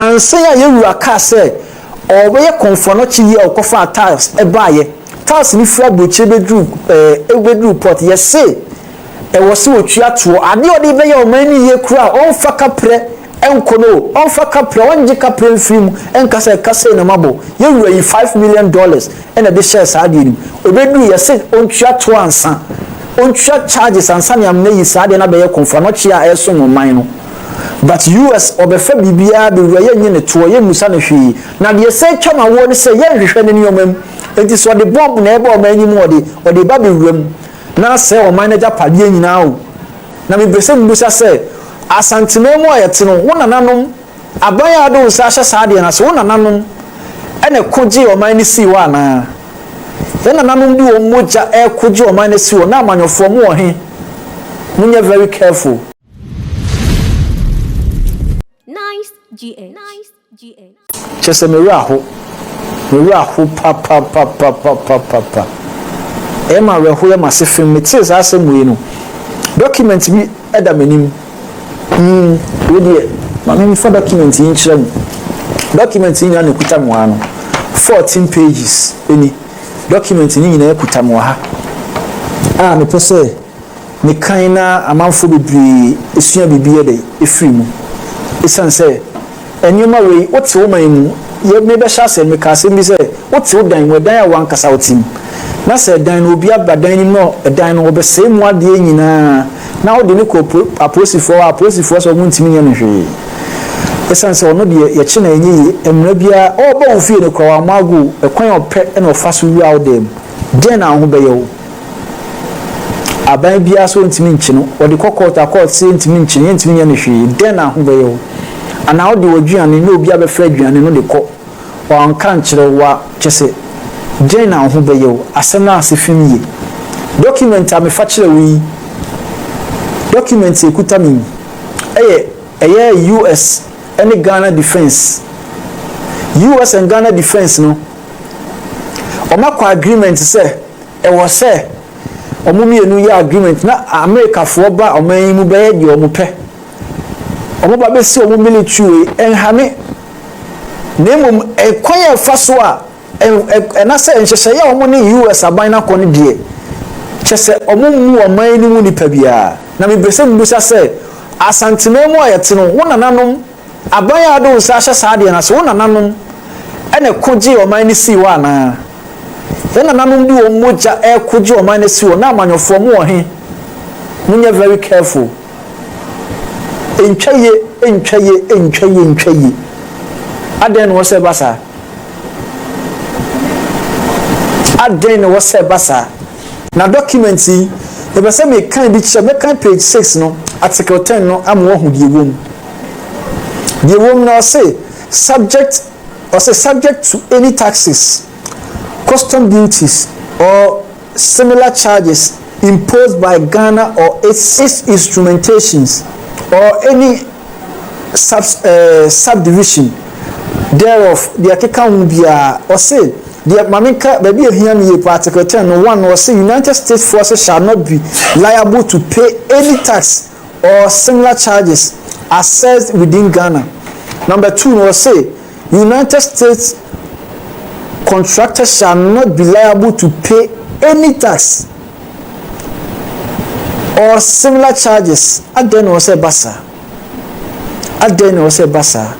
Ansa a yɛn Wura kaa sɛ Ɔɔbɛyɛ kɔmfoa no akyi yi a Ɔkɔfaa Tiles baeɛ. Tiles no firi aburokyire bɛduru ɛɛ bɛduru port. Yɛse ɛwɔ se wɔtua toɔ. Adeɛ a ɔde rebɛyɛ ɔman no yie koraa a ɔmfa kaprɛ nkɔ no o, ɔmfa kaprɛ, ɔngye kaprɛ mfiri mu nka sɛ ɛka sei na mabɔ. Yɛn Wura yii five million dollars na ɛde hyɛɛ saa adeɛ no mu. Ɛbɛduru yɛse ɔntua toɔ ansa, ɔntua charges ansa na yɛamane ayi saa adeɛ no abɛyɛ kɔmfoa no akyi a ɛresom ɔman no. But US ɔbɛfa biribiara bɛwura yɛnnye no toɔ yɛmmusa no hwee na deɛ ɛsɛ twa ma woɔ ne sɛ yɛnhwehwɛ ne nneɛma mu enti sɛ ɔde bomb na ɛreba ɔman no mu ɔde ɔde ba bɛwura mu na asɛe ɔman no agyapadeɛ nyinaa o na mepɛ sɛ mmusa sɛ Asanteman mu a yɛte no wo nananom aban a wode wo nsa ahyɛ saa adeɛ no ase wo nananom ɛna ɛko gyee ɔman no sii hɔ anaa yɛn nananom de wɔn mogya ɛko gye ɔman no si hɔ na amanyɔfoɔ mo wɔ he monyɛ very careful. Nice GH. Nice GH. kyɛ sɛ me werɛ ho me werɛ ho papapapapapapa ɛyɛ ma awerɛho yɛ m'ase fem metee saa asɛm wei no document bi da m'anim hmm wei deɛ ma me mfa document yi nkyerɛ mo document yi nyinaa na ɛkuta mo ano 14 pages ɛni document no nyinaa ɛkuta mo ha a mepɛ sɛ ne kan na amanfoɔ bebree sua biribi yɛ dɛ firi mu. Esiane sɛ nneɛma wei wo te wo man mu yɛ me bɛhyɛ asɛ meka asɛm bi sɛ wo te wo dan mu ɛdan a wankasa wo te mu na sɛ ɛdan no obi aba dan no mu na ɛdan no ɔbɛsɛe mu adeɛ nyinaa na wo de no kɔ apolisifoɔ hɔ a apolisifoɔ sɛ ɔmo ntumi nyɛ no hwee esiane sɛ ɔno deɛ yɛkye na ɛnyɛ yie mmara biara ɔɔba wo fie no koraa wamma ago ɛkwan a ɔpɛ na ɔfa so wura wo dan mu dɛn na wo ho bɛyɛ wo. Aban biara so ntumi nkye no. Wɔde kɔ kɔɔto a kɔɔto sɛ yɛntumi nkye no, yɛntumi nyɛ no hwee. Dɛn na ho bɛyɛ wo? Anaa wode w'aduane na obi abɛfra aduane no de kɔ, wanka ankyerɛ wo a, kyerɛ sɛ, dɛn na wo ho bɛyɛ wo? Asɛm no ase fi yiye. Dɔkumɛnti a mefa kyerɛɛ wo yi, dɔkumɛnti a ekuta me yi, ɛyɛ ɛyɛ US ne Ghana Defence. US and Ghana Defence no, wɔakɔ agreement sɛ. Ɛwɔ sɛ wɔn mmienu yɛ agreement na Amerikafoɔ ba ɔman yi mu bɛyɛ deɛ wɔn pɛ. Wɔn ba bɛsi wɔn military wei ɛnhame. Na mmom ɛkwan a ɛfa so a ɛnasɛ nhyehyɛeɛ a wɔn ne US aban no akɔ no deɛ kyɛ sɛ wɔn mmu ɔman no mu nipa biara. Na mepɛ sɛ mebisa sɛ Asanteman mu a yɛte no wo nananom Aban a wode wo nsa ahyɛ saa adeɛ no ase, wo nananom na ɛko gyee ɔman no sii hɔ anaa? Wo nananom de wɔn mogya reko gye ɔman no asi hɔ. Na amanyɔfoɔ, mowɔ he? Monyɛ very careful. Ɛntwa yie, ɛntwa yie, ɛntwa yie, ɛntwa yie. Adɛn na ɛwɔ sɛ ɛba saa? Adɛn na ɛwɔ sɛ ɛba saa? Na document yi, mepɛ sɛ mekan bi kyerɛ, mɛkan page six no, article ten no ama wɔahu deɛ ɛwɔ mu. Deɛ ɛwɔ mu no ɔse subject ɔse subject to any taxes, custom duties or similar charges imposed by Ghana or its its instrumentations or any sub eh, subdivision thereof deɛ ɛkeka ho biara ɔse deɛ ma menka baabi a hia me yie pa article ten no one ɔse United States forces shall not be liable to pay any tax or similar charges assessed within Ghana. Number two no ɔse United States contractor shall not be liable to pay any tax or similar charges. Adɛn na ɔsɛ ɛba saa? Adɛn na ɔsɛ ɛba saa?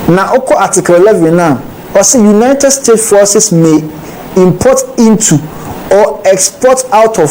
Na ɔkɔ Article 11 na ɔse United States forces may import into or export out of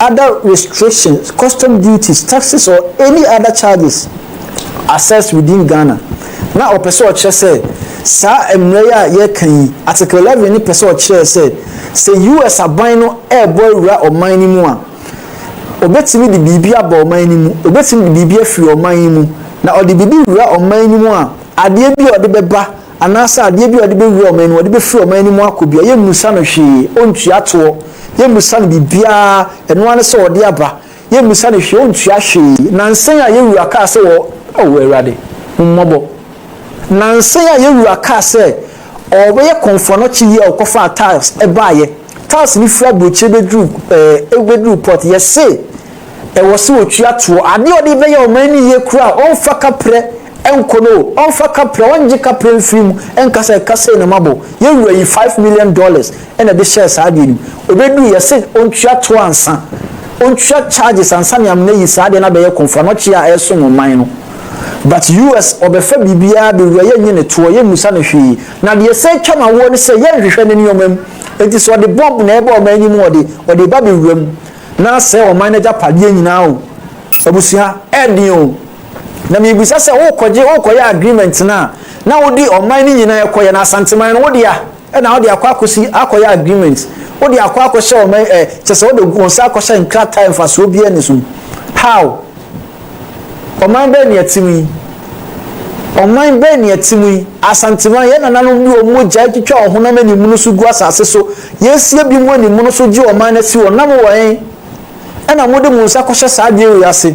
other restrictions, custom duties, taxes or any other charges assessed within Ghana, na ɔpɛ sɛ ɔkyerɛ sɛ saa mmara yi a yɛreka yi, Article 11 no pɛ sɛ ɔkyerɛ sɛ sɛ US aban no rebɔ awura ɔman no mu a, ɔbɛtumi de biribi aba ɔman no mu, ɔbɛtumi de biribi afiri ɔman yi mu, na ɔde biribi wura ɔman no mu a, adeɛ bi a ɔde bɛba Anaasɛ adeɛ bi a ɔde bɛwura wɔn anim, ɔde bɛfiri wɔn anim akɔ bi a, yɛmmisa no hwee, ɔntua toɔ, yɛmmisa no biribiara, ɛno ara ne sɛ ɔde aba, yɛmmisa no hwee, ɔntua hwee. Nnansa yi a yɛn wura kaa sɛ wɔ, oh Awurade, hu mmɔbɔ. Nnansa yi a yɛn wura kaa sɛ ɔrebɛyɛ kɔmfoanɔkye yi a ɔkɔfaa tiles baeɛ, tiles no firi aburokyire bɛduru, ɛɛ, bɛduru port, yɛse ɛwɔ sɛ ɔtua toɔ, adeɛ a ɔde rebɛyɛ wɔn ani yie koraa a, ɔmfa kaprɛ. Ɛnkɔ no o, ɔnfa kaprɛ, ɔngye kaprɛ mfiri mu, ɛnka sɛ ɛka sei na mabɔ. Yɛn wura yi five million dollars na ɛde hyɛɛ saa adeɛ no mu. Ɛbɛduru yɛse ɔntua toɔ ansa, ɔntua charges ansa ne amena ayi saa adeɛ no abɛyɛ kɔmfoɔ anɔkyeɛ a ɛresom ɔman no. But US ɔbɛfa biribiara bɛwura yɛnnye ne toɔ, yɛmmusa no hwee. Na deɛ ɛsan atwa no awoɔ ne sɛ yɛnhwehwɛ ne nneɛma mu. Enti sɛ ɔde bomb na ɛreba ɔman yi mu ɔde, ɔde reba bɛwura mu na asɛe ɔman no agyapadeɛ nyinaa o. Abusua, ɛyɛ den o. Na mibisa sɛ worekɔgye worekɔyɛ agreement no a na wode ɔman no nyinaa kɔyɛ na Asanteman no wodea ɛna wode akɔ akɔsi akɔyɛ agreement wode akɔ akɔhyɛ ɔman ɛ kyɛ sɛ wode wɔn nsa akɔhyɛ nkrataa mfasoɔ biara ni so how ɔman bɛn ne ɛte mu yi ɔman bɛn ne ɛte mu yi Asanteman yɛn nananom de wɔn mogya atwitwa wɔn honam animunu so gu asase so yɛasie bi mu animunu so gye ɔman no asi wɔn nam wɔn ɛna mode mo nsa kɔhyɛ saa adeɛ wei ase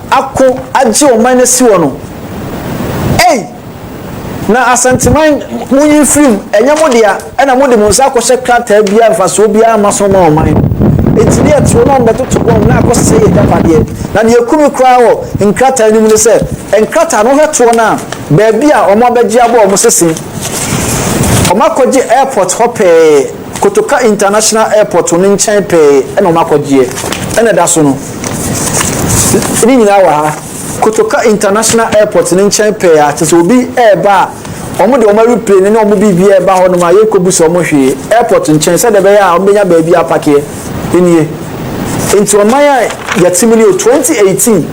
ako agye ɔman asi hɔ no ei na asanteman mo nyi mfirim ɛnyɛ mo dea ɛna mo de mo nsa akɔhyɛ krataa biara mfasoɔ biara mma so ma ɔman no eti ne ɛtoɔ na ɔmbɛtoto bɔm na akɔ sɛ yɛ gyapadeɛ na deɛ kumi koraa wɔ nkrataa no mu ne sɛ nkrataa no hwɛ toɔ no a baabi a ɔmo abɛgye abɔ ɔmo sese ɔmo akɔgye airport hɔ pɛɛ Kotoka International Airport no nkyɛn pɛɛ na wɔakɔgyeɛ, ɛna ɛda so no. Ne nyinaa wɔ ha. Kotoka International Airport no nkyɛn pɛɛ a, kyerɛ sɛ obi reba a, wɔde wɔn aeroplane ne wɔn biribiara reba hɔnom a, yɛrekɔbu sɛ wɔhwee. Airport nkyɛn, sɛdeɛ ɛbɛyɛ a wɔbɛnya baabi apakeɛ nie. Nti ɔman a yɛte mu no yɛ 2018.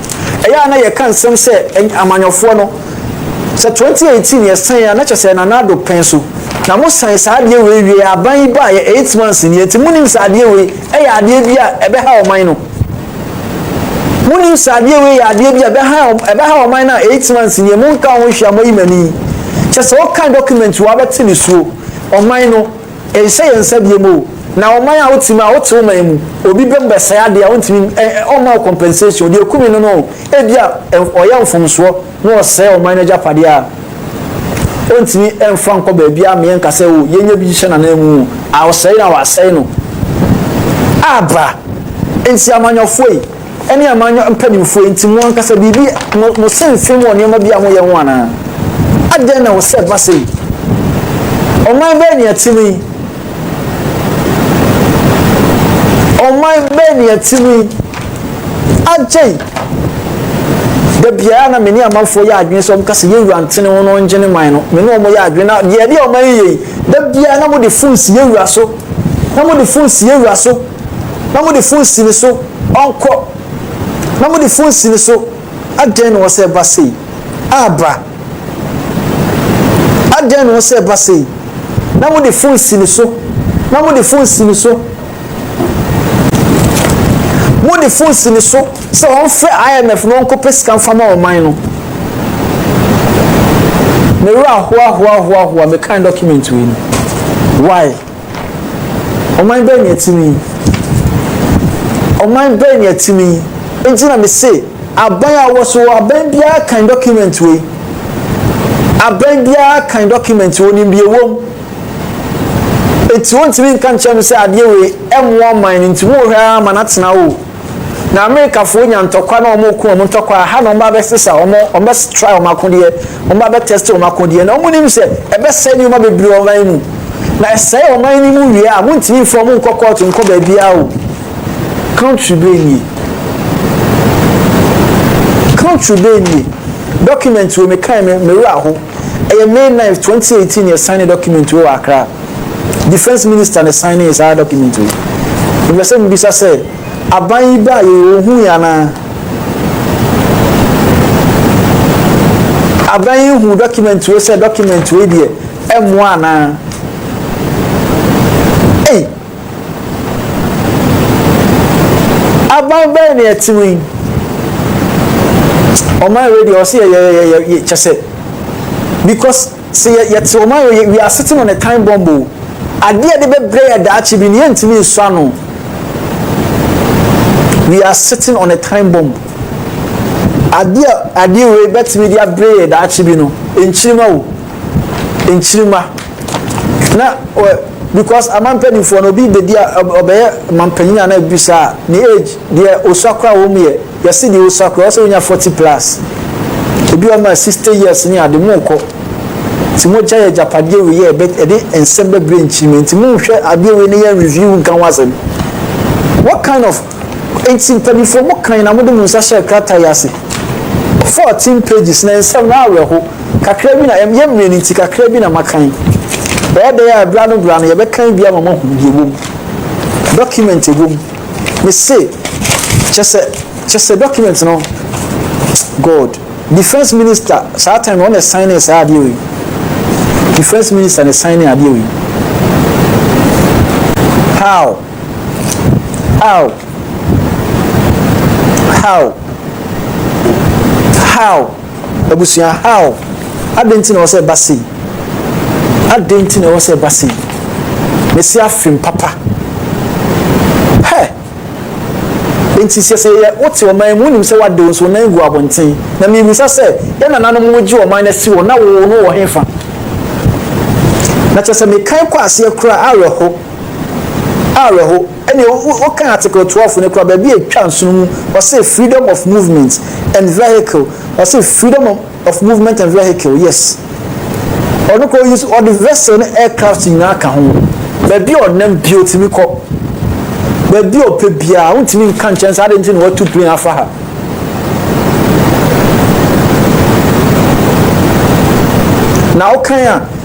Ɛyɛ a na yɛka nsɛm sɛ amanyɔfoɔ no, Sɛ 2018 yɛ san a na kyɛ sɛ Nana Addo pɛn so na mo san saa adeɛ wei wie a aban yi baa yɛ 8 months nie nti mo nim sɛ adeɛ wei ɛyɛ adeɛ bi a ɛbɛ ha ɔman no mo nim sɛ adeɛ wei yɛ adeɛ bi a ɛbɛ ha ɛbɛ ha ɔman no a 8 months nie mo nka ho nhwia mo yi mani kyɛ sɛ ɔkan document wa bɛte ne suo ɔman no Nhyɛ yɛn nsa biom o. Na ɔman a wote mu a wote wo man mu obi bɛ mu bɛsɛe ade a ontumi ɛ ɔmma wo compensation deɛ ekumi no no ebia ɔyɛ mfomsoɔ na ɔsɛe ɔman no agyapadeɛ a ontumi mfa nkɔ baabi a meɛ nka sɛ o yɛnyɛ bi nhyɛ nanan mu a ɔsɛe no a wasɛe no aba nti amanyɔfoɔ yi ɛne amanyɔ mpanimfoɔ nti mo ankasa biribi mo mo se mfem wɔ nneɛma bi a moyɛ ho anaa adɛn na wɔsɛ ɛba sɛ yi ɔman bɛɛ ne ɛte mu yi ɔman bɛɛ ne ɛte mu yi agye yi da biara na mene amanfoɔ yɛ adwene sɛ ɔmka sɛ yɛwura ntene ho no ɔngye ne man no mene ɔmɔ yɛ adwene na deɛ ɛde ɔman yi yɛ yi da biara na mode fon si yɛwura so na mode fon si yɛwura so na mode fo nsi ne so ɔnkɔ na mode fo nsi ne so adɛn na wɔsɛ ɛba sei aba adɛn na wɔsɛ ɛba sei na mode fo nsi ne so na mode fo nsi ne so mode fo nsi ne so sɛ wɔmfrɛ imf na wɔnkɔpɛ sika mfa ma ɔman no me werɛ ahoahoahoahoa me kan document wei no why Ɔman bɛn na ɛte me yi? Ɔman bɛn na ɛte me yi? Enti na mese aban a wɔ so aban biara kan document wei. Aban biara kan document wɔ nim deɛ wɔm. Enti wɔntumi nka nkyɛn no sɛ adeɛ wei ɛmoa ɔman no nti wɔhwɛ ara ma no atena o. Na Amerikafoɔ nya ntɔkwa na wɔn reko wɔn ntɔkwa aha na wɔn ba bɛ sesa wɔn wɔn bɛ try wɔn akodeɛ wɔn ba bɛ test wɔn akodeɛ na wɔn nim sɛ ɛbɛ sɛ nneɛma bebree ɔman mu na ɛsɛe ɔman no mu wie a mo ntumi nfa wɔn nkɔ kɔɔto nkɔ baabiara o country bɛɛ nie country bɛɛ nie document wɔ me kan me me wura ho. Ɛyɛ May ninth, twenty eighteen na yɛsaene document wei wɔ Accra. Defence Minister na ɛsaenee saa document wei. Mepɛ sɛ mebisa sɛ, aban yi baeɛ yi, wɔhuui anaa? Aban yi huu document wei sɛ document wei deɛ ɛmmoa anaa? Ei! Aban bɛn na ɛte wei? Ɔman wei deɛ ɔse yɛ yɛ yɛ yɛ yɛ kyɛ sɛ because sɛ yɛ yɛte ɔman wei yɛ wiase te no ne time bomb o adeɛ de bɛbrɛ yɛ daakye bi ne yɛntumi nsɔ ano we are sitting on a time bomb adeɛ a adeɛ wei bɛtumi de abrɛ yɛ daakye bi no nkyirima o nkyirima. na ɔ because ama mpanimfoɔ no obi bɛdi a ɔbɛyɛ mampanyin a na bisa a ne age deɛ osua koraa wɔn mu yɛ yɛsi deɛ osua koraa ɔsɛ onya forty plus ebi wɔn ma sixty years ne ade mu kɔ nti mo gya yɛ gyapadeɛ wei yɛ ɛbɛ ɛde nsɛm bɛbrɛ nkyirima nti mo nhwɛ adeɛ wei ne yɛ review nka ho asɛm what kind of Enti mpaninfoɔ mo kan na mode mo nsa hyɛɛ krataa yi ase. Fourteen pages na nsɛm no awerɛho kakra bi na ɛm yɛ mmerɛ no nti kakra bi na makan. Ɛyɛ dɛn a bra no bra no yɛbɛkan bi ama moahunu deɛ ɛwɔ mu. Document ɛwɔ mu mese kyɛsɛ kyɛsɛ document no God defence minister saa time no ɔna ɛsan ne saa adeɛ wei defence minister na ɛsan ne adeɛ wei how How? How? How? Abusua, how? Adɛn nti na ɛwɔ sɛ ɛba sei? Adɛn nti na ɛwɔ sɛ ɛba sei? Mesi afem papa. Hɛ! Nti sɛ sɛ yɛ wote ɔman mu wonim sɛ wade wo nso nan gu abɔnten. Na mebisa sɛ yɛn nananom wogye ɔman no asi hɔ na wo no wɔ hefa? Na kyerɛ sɛ mekan kɔ aseɛ koraa awerɛho. Awerɛho. Ɛnneɛ wo, wo, wokan Article twelve no koraa, baabi a ɛtwa nsono mu, ɔse freedom of movement and vehicle, ɔse freedom of, of movement and vehicle, yes. Ɔno koraa ɔyi so, ɔde vessel ne aircraft nyinaa ka ho. Baabi a ɔnam bi ɔtumi kɔ, baabi a ɔpɛ biara, wontumi nka nkyɛn sɛ ade nti na watu plane afa ha. na wokan a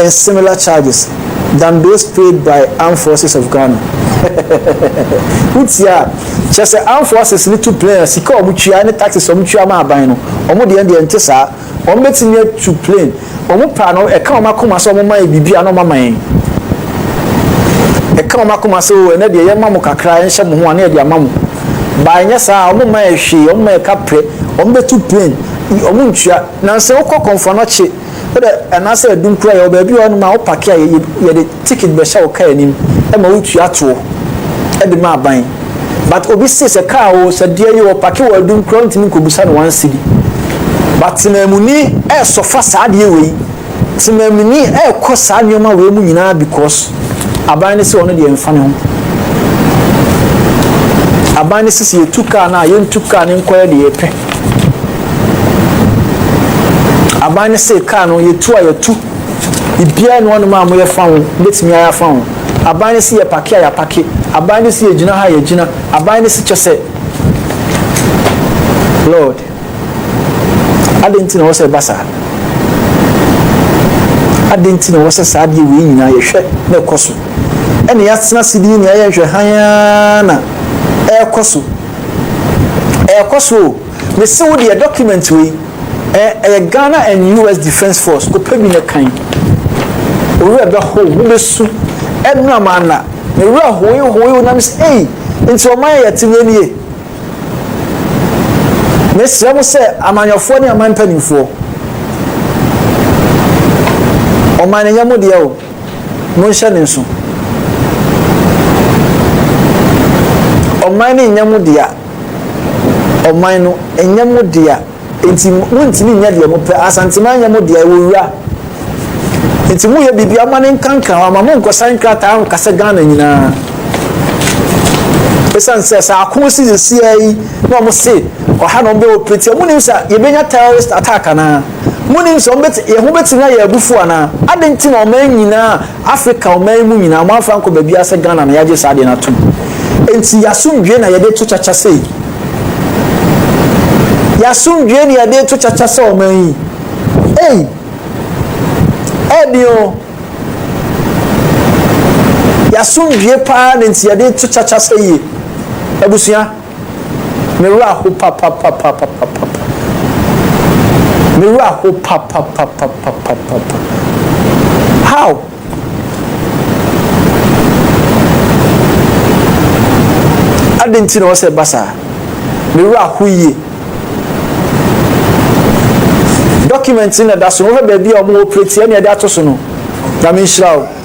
and similar charges than those paid by Armed Forces of Ghana. Wotia kyerɛ sɛ Armed Forces no tu plane a sika a wɔtua ne taxes a wɔtua ma aban no, wɔn deɛ deɛ nte saa. Wɔbɛtumi atu plane. Wɔn paa no, ɛka wɔn akoma sɛ wɔma yɛ biribi a na wɔama yɛn. Ɛka wɔn akoma sɛ o ɛnɛ deɛ yɛma mo kakra yɛnhyɛ mo ho a na yɛde ama mo. Baa nyɛ saa, wɔma yɛ hwee, wɔma yɛ kaprɛ, wɔbɛtu plane, wɔntua. Nansa wokɔ kɔmfoanɔkye. Wode anaasɛ ɛdum kura yɛwɔ baabi wɔ hɔnom a wopake a yɛde ticket bɛhyɛ wo car anim ma wotua tow de ma aban but obi se sɛ car oo sɛ deɛ yi ɔpake wɔ adum kura wontumi nkɔbisa no one cedi but temamuni ɛɛsɔfa saa adeɛ wei temamuni ɛɛkɔ saa nneɛma wei mu nyinaa because aban no se ɔno deɛ mfa ne ho aban no sisi yɛtu car no a yɛntu car no nkɔyɛ deɛ yɛpɛ Aban no se kaa no yɛ tu a yɛtu biribiara nni hɔnom a moyɛ fa ho, mobɛtumi ayɛ afa ho. Aban no se yɛ pake a yɛapake. Aban no se yɛ gyina ha a yɛagyina. Aban no se kyɛ sɛ. Lord, adɛn nti na ɛwɔ sɛ ɛba saa? Adɛn nti na ɛwɔ sɛ saa adeɛ wei nyinaa yɛhwɛ na ɛkɔ so? Ɛne yɛatena ase de yɛ nyinaa yɛnhwɛ hann ara na ɛrekɔ so. Ɛrekɔ so o. Mese wo deɛ document wei eh, ɛyɛ Ghana and US Defence Force kɔpɛ bi na kan. Owura bɛ ho mu bɛ su ɛnura maa na ne wura hoe hoe na mese ei nti ɔman yɛ yɛte wei nie. Mesrɛ mo sɛ amanyɔfoɔ ne aman mpanimfoɔ ɔman no nyɛ mo deɛ o. Monhyɛ no nso. Ɔman no nyɛ mo dea, ɔman no nyɛ mo dea, enti montumi nyɛ deɛ mopɛ. Asanteman nyɛ mo dea, ɛwɔ wura, enti moyɛ biribiara momma no nkanka hɔ ama monkɔsan nkrataa nka sɛ Ghana nyinaa. Ɛsiane sɛ sɛ ako si sesie ara yi na wɔn se ɔha na wɔn bɛ operate, wɔn nim sɛ yɛbɛnya terrorist attack anaa? Monim sɛ wɔbɛte, yɛn ho bɛtumi ayɛ abufuo anaa? Adɛn nti na ɔman nyinaa, Afrika ɔman yi mu nyinaa, wɔamfa ankɔ baabiara sɛ Ghana na yɛagye saa adeɛ no atom? Enti y'asomdwoeɛ na yɛde to kyakya sei? Y'asomdwoeɛ na yɛde to kyakya sɛ ɔman yi? Ei! Ɛden o! Y'asomdwoeɛ paa na nti yɛde to kyakya sɛ yie? Abusua. Me wura ho papapapapapapa. Me wura ho papapapapapapa. How? Adịn nti na ɔsɛ ba saa? Me wura ho yie. Dɔkumɛnti na da so no, wohwɛ baabi a wɔn operate ɛna ɛde ato so no, nyame nhyira o.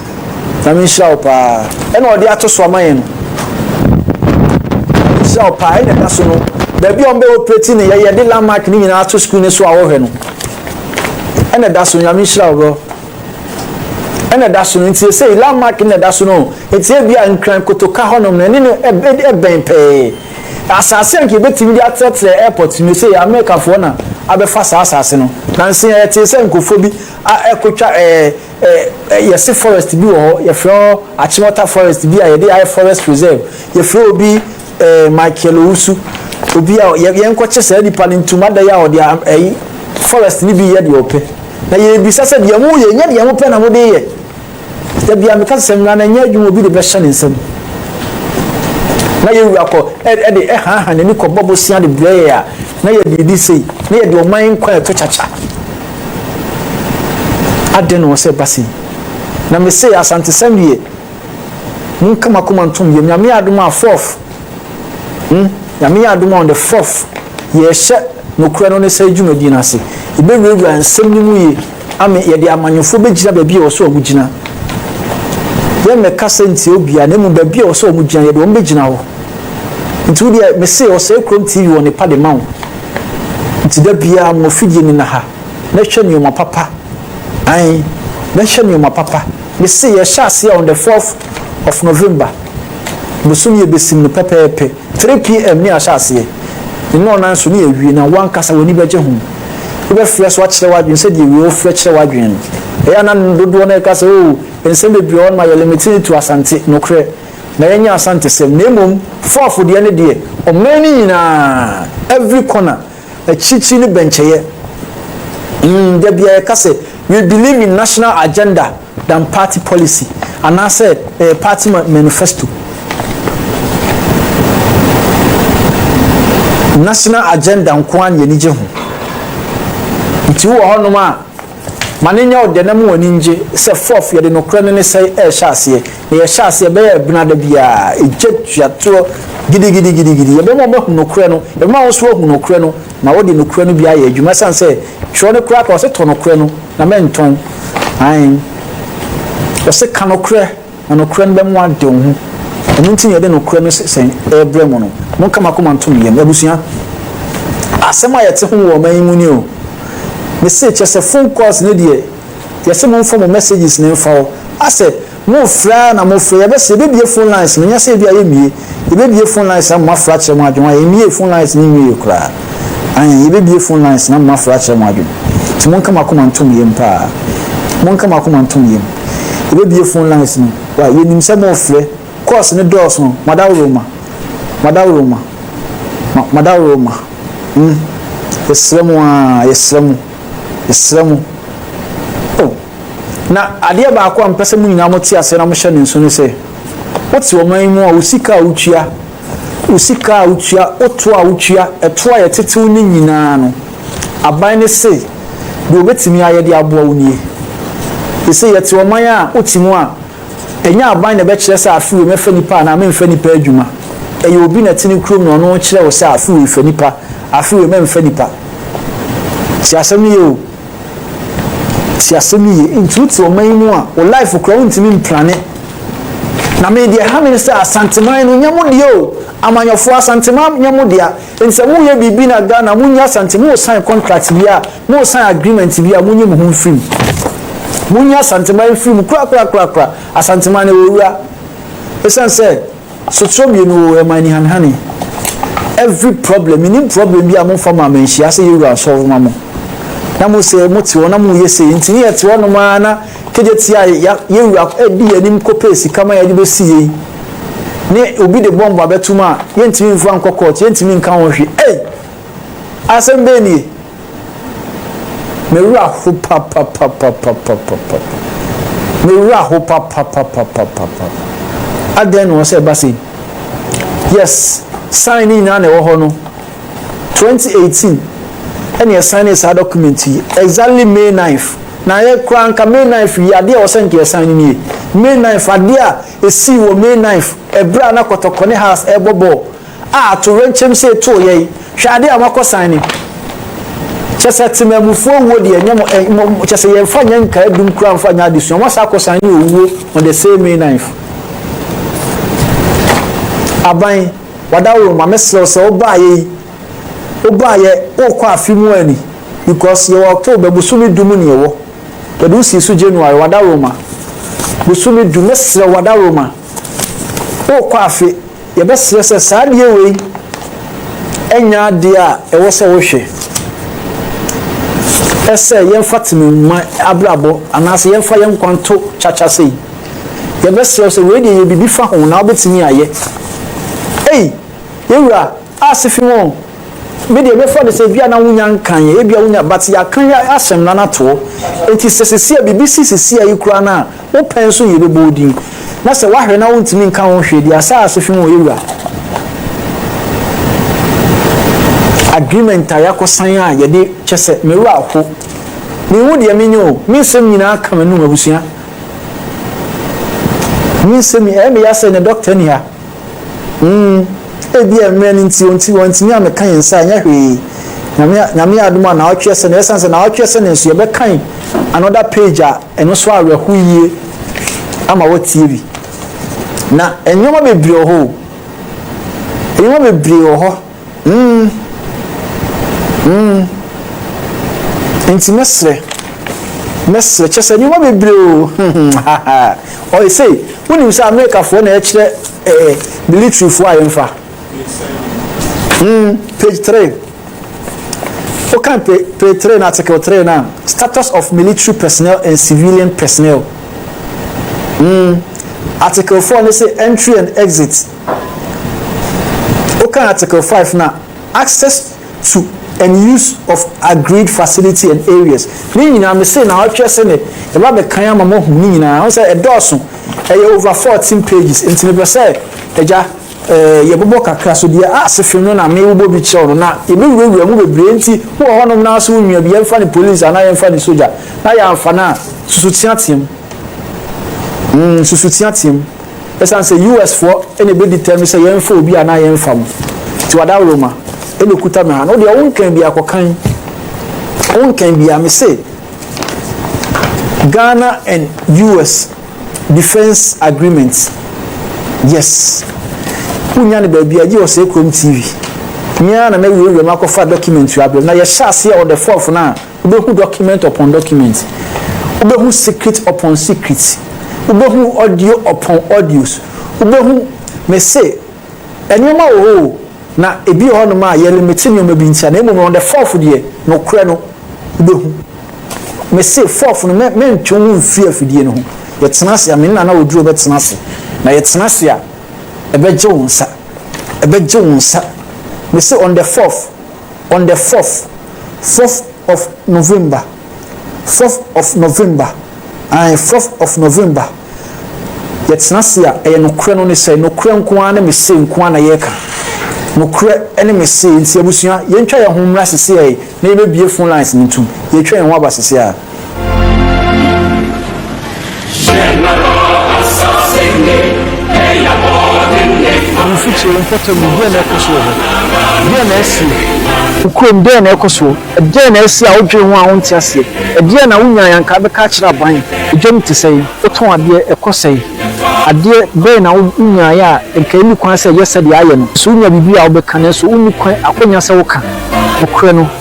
Nyame nhyira wo paa. Ɛna ɔde ato so ama yɛn no. Nyame nhyira wo paa. Ɛna ɛda so no. Baabi a ɔmbɛ operate ne yɛyɛ de landmark ne nyinaa ato screen ne so a wɔhwɛ no. Ɛna ɛda so Nyame nhyira wo bro. Ɛna ɛda so no nti ɛsɛ landmark na ɛda so no. Nti ebi a nkran kotoka hɔnom no ɛne no ɛbɛn pɛɛ. Asase a nka ebetumi de atrɛtrɛ airport no sɛ Americafoɔ na abɛfa saa asase no. Nansi ɛte sɛ nkofo bi a ɛkotwa ɛɛ Ɛ, yɛse forest bi wɔ hɔ, yɛfrɛ hɔ Achimota forest bi a yɛde ayɛ forest preserve. Yɛfrɛ obi ɛɛ Michael Owusu, obi a yɛ, yɛnkɔkye saa nipa no ntom adɛn a ɔde a, ɛyi, forest no bi yɛ deɛ ɔpɛ. Na yɛrebisa sɛ deɛ moyɛ, ɛnyɛ deɛ mopɛ na mode yɛ. Da bi a meka sɛ sɛ mmara no ɛnyɛ adwuma obi de bɛhyɛ ne nsam. Na yɛn wura kɔ, ɛ, ɛde ɛhaaha n'ani kɔbɔ bosea de brɛ yɛn a, na yɛde redi sei, na yɛde ɔman nkwa ɛto kyakya. Aden na ɔwɔ sɛ ɛba sei? Na me se Asantesɛm deɛ monka mo akoma ntom yɛm. Nyame yɛ adom a fourth hmm Nyame yɛ adom a on the fourth yɛrehyɛ nokorɛ no ne saa dwumadie no ase. Yɛbɛwurawura nsɛm no mu yie ame yɛde amanyɔfoɔ bɛgyina baabi a ɛwɔ sɛ wɔn gyina. Yɛmmɛka sɛ ntia obiara na mmom baabi a ɛwɔ sɛ wɔn gyina yɛde wɔn bɛgyina hɔ. Nti wo deɛ me se ɔsɛe kurom TV wɔ ne pa de ma wo. Nti da biaa mo afidie no na ha na ɛhwɛ nnoɔma papa ae na ɛhwɛ nnoɔma papa mese yɛhyɛ aseɛ on the 4th of November bosome yɛbɛsim no pɛpɛɛpɛ 3 pm ne yɛahyɛ aseɛ ne nnɔnan so ne yɛawie na wo ankasa w'ani bɛgye ho wobɛfrɛ so akyerɛ w'adwene sɛ deɛ wei wofrɛ kyerɛ w'adwene no ɛyɛ na dodoɔ no ɛka sɛ oo nsɛm bebree ɔno ma yɛ limited to asante nokorɛ na yɛnyɛ Asantesɛm na mmom Fuafo deɛ no deɛ ɔman no nyinaa every corner akyirikyiri no bɛnkyɛyɛ mm da bia yɛka sɛ we believe in national agenda than party policy anaasɛ ɛyɛ party manifesto national agenda nkoa na yɛnigye ho nti wowɔ hɔnom a Ma no nyɛ wo dɛ na ma w'ani ngye sɛ Fourth yɛde nokorɛ no ne sɛe ɛrehyɛ aseɛ na yɛhyɛ aseɛ bɛyɛ ɛbena da biaa ɛgya tua toɔ gidigidigidigidi yɛbɛma wo bɛhu nokorɛ no yɛbɛma wo nso wahu nokorɛ no na wode nokorɛ no bi ayɛ adwuma ɛsiane sɛ twerɛ no koraa ka ɔse tɔ nokorɛ no na mɛntɔn aen ɔse ka nokorɛ Na nokorɛ no bɛmo ade wo ho. Ɛno nti na yɛde nokorɛ no sɛsɛn rebrɛ mo no. Monka mo akoma nto me yam. Abusua, asɛm a yɛte ho wɔ ɔman yi mu ni o. Mese, kyerɛ sɛ phone calls no deɛ, yɛse momfa mo messages no mfa hɔ. Asɛ, morefrɛ ara na morefrɛ. Yɛbɛse yɛbɛbue phone lines no, nyɛ sɛ ebia yɛmmue. Yebebue phone lines na moafrɛ akyerɛ mo adwene ho a, yɛnwiee phone lines no nwiee koraa. Aane, yebebue phone lines na moafrɛ akyerɛ mo adwene. Nti monka mo akoma ntom yam paa. Monka mo akoma ntom yam. Yebebue phone lines no. Wai, yɛnim sɛ morefrɛ. Calls no dɔɔso. Madaworoma. Madaworoma. Ma, Madaworoma. Mm. Yɛsrɛ mo aa, yɛsrɛ mo. Yɛsrɛ mo. Oh. Na adeɛ baako a mepɛ sɛ mo nyinaa mote aseɛ na mohyɛ no nso ne sɛ, Wote ɔman yi mu a, wo sika a wotua, wo sika a wotua, wo to a wotua, ɛto a yɛtetew ne nyinaa no, aban no se deɛ wɔbɛtumi ayɛ de aboa wo nie. Yɛse yɛte ɔman a wote mu a, ɛnyɛ aban na ɛbɛkyerɛ sɛ afe wei mɛfa nipa anaa memfa nipa adwuma. Ɛyɛ obi na ɛte ne kurom na ɔno rekyerɛ wo sɛ afe wei fa nipa, afe wei mɛmfa nipa. Tie asɛm no yie o. Tie asɛm yi yie. Nti wote ɔman yi mu a, wo life koraa wontumi mplane. Na me deɛ ɛha me ne sɛ Asanteman no nyɛ mo deɛ o. Amanyɔfoɔ Asanteman nyɛ mo dea. Nti sɛ moyɛ biribi na Ghana monyi Asante, mo sign contract bi a, mo sign agreement bi a, monyi mo ho mfiri mu. Monyi Asanteman mfiri mu korakorakorakora. Asanteman no ɛwɔ wura. Ɛsiane sɛ. Sotorɔ mmienu oo ɛma anihanehane every problem menim problem bi a mo nfa maa me nhyia sɛ yɛwura nsɔre ma mo na mo sɛ mo te hɔ na mo yɛ sei nti ne yɛte hɔ nom ara na kegye te a ya yɛwura ɛdi yɛn anim kɔpɛ sika ma yɛde bɛsi yei ne obi de bɔmbo abɛtum a yɛntumi nfa nkɔ court yɛntumi nka ho hwe ei asɛm bɛɛ nie. Me wura ho papapapapapapa. Me wura ho papapapapapapa. Adɛn na ɔsɛ ɛba sei? Yes, sign ne nyinaa na ɛwɔ hɔ no. 2018 ɛna ɛsan ne saa document yi exactly May 9th na yɛ kura nka May 9th yi adeɛ a ɔsɛ nka ɛsan ne nie May 9th adeɛ a ɛsii wɔ May 9th ɛberɛ a na kɔtɔkɔ ne has ɛbɔ bɔɔl A atoyerɛnkyɛm sei too yɛn. Hwɛ ade a wɔakɔsan ni. Kyerɛ sɛ temammufoɔ awuo deɛ nyɛ mo ɛn mo kyerɛ sɛ yɛmfa nyɛ nkaadum koraa mfa nyɛ adesua. Wɔasan akɔsan ne owuo on the same May 9th. Aban, wadaworo ma mesrɛ wo sɛ wobaeɛ yi wobaeɛ wokɔ afe mu a ni because yɛwɔ October bosome du mu ne yɛwɔ. Yɛde wo sii so January wadaworo ma bosome du mesrɛ wo wadaworo ma wokɔ afe. Yɛbɛserɛ sɛ saa adeɛ wei nyɛ adeɛ a ɛwɔ sɛ wohwɛ sɛ yɛmfa tene mma abrabɔ anaasɛ yɛmfa yɛn nkwa nto kyakya sei. Yɛbɛserɛ wo sɛ wei deɛ yɛ biribi fa ho na wobɛtumi ayɛ. Ei, yɛwura ase fi ho. Me deɛ mɛfa no sɛ ebi a na wonya nkan yɛ, ebi a wonya but yɛakan yɛ asɛm na no atoɔ. Enti sɛ sesia biribi si sesia yi koraa no a, Wo pɛ nso na yɛbɛbɔ wo din, na sɛ woahwere na wontumi nka ho hwee deɛ a, saa ara so fi mu ɔyɛ wura. Agreement a yɛakɔsan a yɛde kyɛ sɛ me wura ho. Menhu deɛ menyɛ o, me nsɛm nyinaa ka m'anum, abusua. Me nsɛm, ɛyɛ me ya sɛ nnɛ dɔkta nni ha. Mm, ebia mmerɛ no nti ɔnti wɔntumi a meka yɛn nsa ɛnyɛ hwee. Nyame nyame adom a naawɔtwe ɛsɛ na ɛsan sɛ naawɔtwe ɛsɛ ne nso yɛbɛkan another page a ɛno so awerɛho yie ama wɔtie bi. Na nneɛma bebree wɔ hɔ o. Nneɛma bebree wɔ hɔ. Nti mɛsrɛ, mɛsrɛ, kyerɛ sɛ nneɛma bebree o, ɔyɛ sei, wonim sɛ Amerikafoɔ na ɛkyerɛ ɛɛ eh, militarifoɔ a yɛmfa. Mm, page three. Wokan page three na article three na status of military personnel and civilian personnel. Mm, article four ne sɛ entry and exit. Wokan Article five no a, access to and use of agreed facility and areas, ne nyinaa me sei na ɔtwɛ sɛ ne yɛba bɛkan ama mo ahu ne nyinaa. Wohu sɛ ɛdɔɔso, ɛyɛ over fourteen pages. Nti mepɛ sɛ agya eh, yɛbobɔ kakra so deɛ ase fem no na me wobɔ bi kyerɛw no na yɛbɛwurawura mu bebree. Nti wowɔ hɔnom na so wonwia bi, yɛmfa ne police anaa yɛmfa ne sogya na yɛamfa no a, susu teateam. Mm, susu teateam. Esiane sɛ US foɔ na ɛbɛdi tɛm sɛ yɛmfa obi anaa yɛmfa mo nti w'adaworoma na ɛkuta me ha no wodeɛ wonkan bia kɔkan wonkan bia me se Ghana and US defense agreement yes wonya no baabi agye wɔ sɛ kurom TV meaa na mɛwurawura mu akɔfa document abrɛm na yɛhyɛ aseɛ ɔdɛfɔɔfo no a Wobɛhu document upon document. Wobɛhu secret upon secret. Wobɛhu audio upon audios. Wobɛhu, mese, nneɛma wɔ hɔ o, na ebi wɔ hɔnom a yɛlimite nneɛma bi ntia, na mmom no, on the fourth deɛ, nokorɛ no, wobɛhu. Mese, fourth no, mɛ, mɛntwe wo ho mfiri afidie no ho. Yɛtena ase a, me ne Nana Oduro bɛtena ase. Na yɛtena ase a, ɛbɛgye wo nsa. Ɛbɛgye wo nsa. Mese, on the fourth. on the fourth fourth of November fourth of November ae fourth of November yɛtena se a ɛyɛ nokorɛ no ne sɛ nokorɛ nko ara ne me se nko ara na yɛreka nokorɛ ne me se nti abusua yɛntwa yɛn ho mmra seseɛ na yɛbɛbie phone lines no ntom yɛtwa yɛn ho aba seseɛ a. Mfikyire, mpɔtam no, deɛn na ɛrekɔ so wɔ hɔ? Deɛn na ɛresie? Wo kurom, deɛn na ɛrekɔ soɔ? Ɛdeɛn na ɛresie a wodwene ho a wonte aseɛ? Ɛdeɛn na wonyaeɛ a anka wobɛka akyerɛ aban? Edwam te sɛn? Wotɔn adeɛ, ɛkɔ sɛn? Adeɛ bɛn na wonyaeɛ a anka ɛnni kwan sɛ ɛyɛ sɛdeɛ ayɛ no? So wonya biribi a wobɛka nanso wonni kwan, akwannya sɛ woka? Nokorɛ no.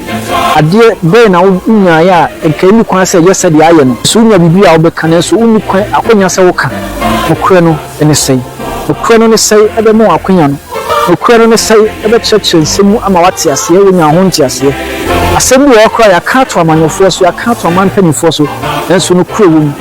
Adeɛ bɛn na wonyaeɛ a anka ɛnni kwan sɛ ɛyɛ sɛdeɛ ayɛ no? So wonya biribi a wobɛka nanso wonni kwan akwanya sɛ woka? Nokorɛ no ne sɛn? Nokorɛ no ne sɛn ɛbɛma wo akwanya no? Nokorɛ no ne sɛn ɛbɛkyerɛkyerɛ nsɛm mu ama woate aseɛ, woanya ho nteaseɛ? Asɛm bi wɔ hɔ koraa a yɛaka ato amanyɔfoɔ so, yɛaka ato aman mpanimfoɔ so, nanso nokorɛ wɔ mu.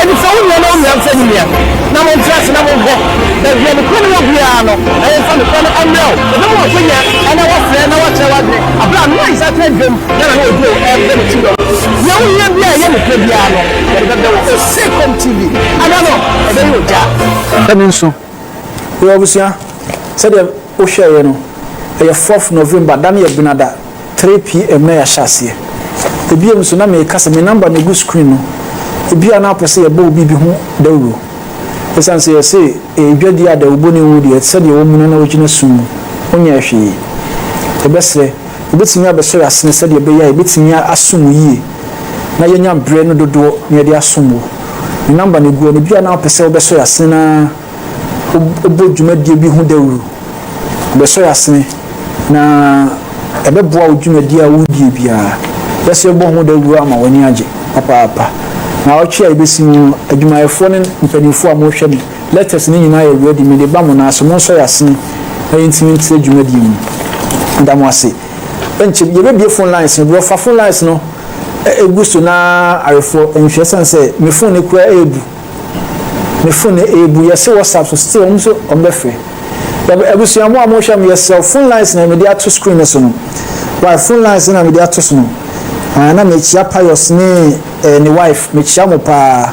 Ɛnifɛ wo nua na wo nua nfɛ ne nua, na montra ase na monkɔ baabi a nokorɛ no wɔ biara no, na yɛmfa nokorɛ no mmrɛ wo. Wɔbɛma wo akwanya na wɔafrɛ na wɔakyerɛ wo adwene berɛ a Noa nsateaa dwam na n'ano aduro ɛrefrɛ ne kyidɔm. Deɛ wohia biara a ɛyɛ nokorɛ biara no, yɛde bɛbrɛ wo. Osekom TV, Ada no, ɛbɛyɛ ogya. Ɛno nso, Yo abusua, sɛdeɛ wo hwɛeɛ no, ɛyɛ fourth November, da no yɛ Benada, three PM na yɛahyɛ aseɛ. Ebiem nso na meka sɛ me number na egu screen no, ebia na wopɛ sɛ yɛbɔ wo biribi ho dawuro. Esiane sɛ yɛse ɛyɛ dwadie a dawubɔni nwu deɛ, ɛte sɛ deɛ wɔamu no na wogyina sum mu, wonyɛɛ hwee. Yɛbɛsrɛ, wobɛtumi abɛsɔ yɛn asene sɛdeɛ ɛbɛyɛ a yɛbɛtumi asom wo yie. na yɛanya berɛ no dodoɔ na yɛde asom wo. Ne number no gu hɔ no, ebia na wopɛ sɛ wobɛsɔ yɛn asene na wobɔ dwumadie bi ho dawuro. Yɛbɛsɔ yɛn asene na ɛbɛboa wo dwumadie a woredie biara. Yɛsɛ yɛbɔ ho dawuro ama w'ani agye papaapa. Naawɔtwe a yɛbɛsi mu no, adwumayɛfoɔ ne mpanimfoɔ a mohwɛ me letters no nyinaa yɛ ready, mede ba mo nan ase, monsɔ yɛn asene na yɛntumi ntrɛ dwumadie mu. Meda mo ase. nkyem yɛbɛbue phone lines no berɛ ɔfa phone lines no ɛgu so na arefoɔ nhwɛ ɛsiane sɛ me phone no kura ɛɛbu me phone no ɛɛbu yɛse whatsapp so still wɔn nso wɔn bɛfrɛ yɛbɛ abusua mo a mo hwɛ mo yɛsrɛ phone lines na mede ato screen no so no why phone lines na mede ato so no ah, na mekyia pious ne eh, ne wife mekyia mo paa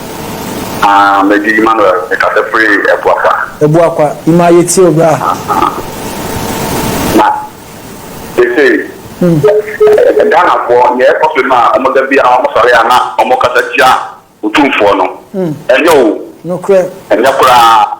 Ah, Medi Emmanuel, mekasa firi Abuakwa. Abuakwa, Ima yɛtie wo bra. Na seesei Ghanafoɔ neɛ ɛkɔ so no a wɔn da biara wɔn sɔre a na wɔn kasa tia Otumfoɔ no, ɛnyɛ o, ɛnyɛ koraa.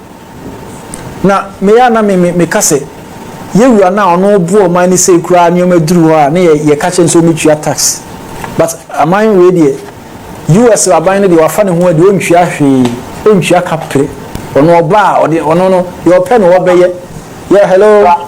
Na me a na me me meka sɛ yɛwura no a ɔno ɔboa ɔman no sei koraa nneɛma duru hɔ a ne yɛ yɛka kyerɛ no sɛ ɔmɛtua tax but aman wei deɛ US aban no deɛ wafa ne ho adi ɔntua hwee ɔntua kapere ɔno ɔba a ɔde ɔno no deɛ ɔpɛ no ɔbɛyɛ yɛ hello.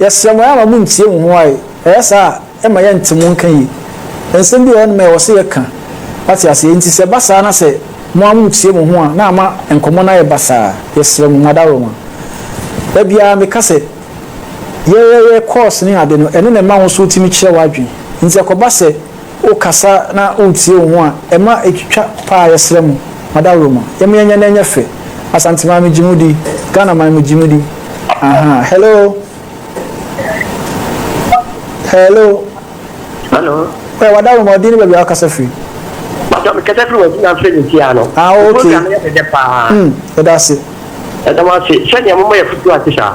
Yɛsrɛ mo, ɛama mo ntie mo ho ae, ɛyɛ saa a, ɛma yɛnte mo nka yie. Nsɛm bi wɔ hɔnom a ɛwɔ sɛ yɛka, wate aseɛ, enti sɛ ɛba saa na sɛ mo ara moretie mo ho a, na ama nkɔmmɔ no ayɛ basaa. Yɛsrɛ mo, mo adaworoma. Da biara meka sɛ, yɛyɛyɛ course ne ade no, ɛno na ɛma wo nso wotumi kyerɛ w'adwene. Enti ɛkɔba sɛ. Wokasa na woretie wo ho a, ɛma ɛtwitwa paa yɛsrɛ mo ma dawuro ma yɛma yɛnyɛ na ɛnyɛ fɛ Asante man megye mo di Ghana man megye mo di Ahaa Hello Hello Hello Ɔyɛ wadawuro ma ɔdin ne baabi a wakasa firi Matɔ mekasa firi wadi na mfiri ne ti ano Ah okay Program yɛ dɛdɛ paa Mm yɛda ase Ɛda mo ase sɛdeɛ moma yɛ futuo ase saa.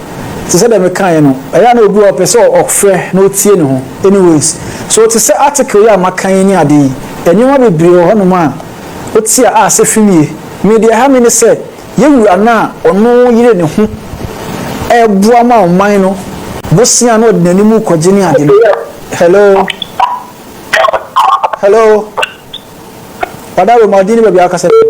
Te sɛ deɛ mekaeɛ no, ɛyɛ a na obi wɔ hɔ a ɔpɛ sɛ ɔfrɛ na ɔtie ne ho. Anyways, so te sɛ article yi a maka yi ne adeɛ yi, nneɛma bebree wɔ hɔnom a wote a a sɛfim ye. Me deɛ ɛha me ne sɛ, yɛn wura no a ɔno yere ne ho reboa ma ɔman no bosea na ɔde n'anim rekɔgye ne ade no, hello? Hello? Ɔdawoma, din ne baabi a wokasa firi.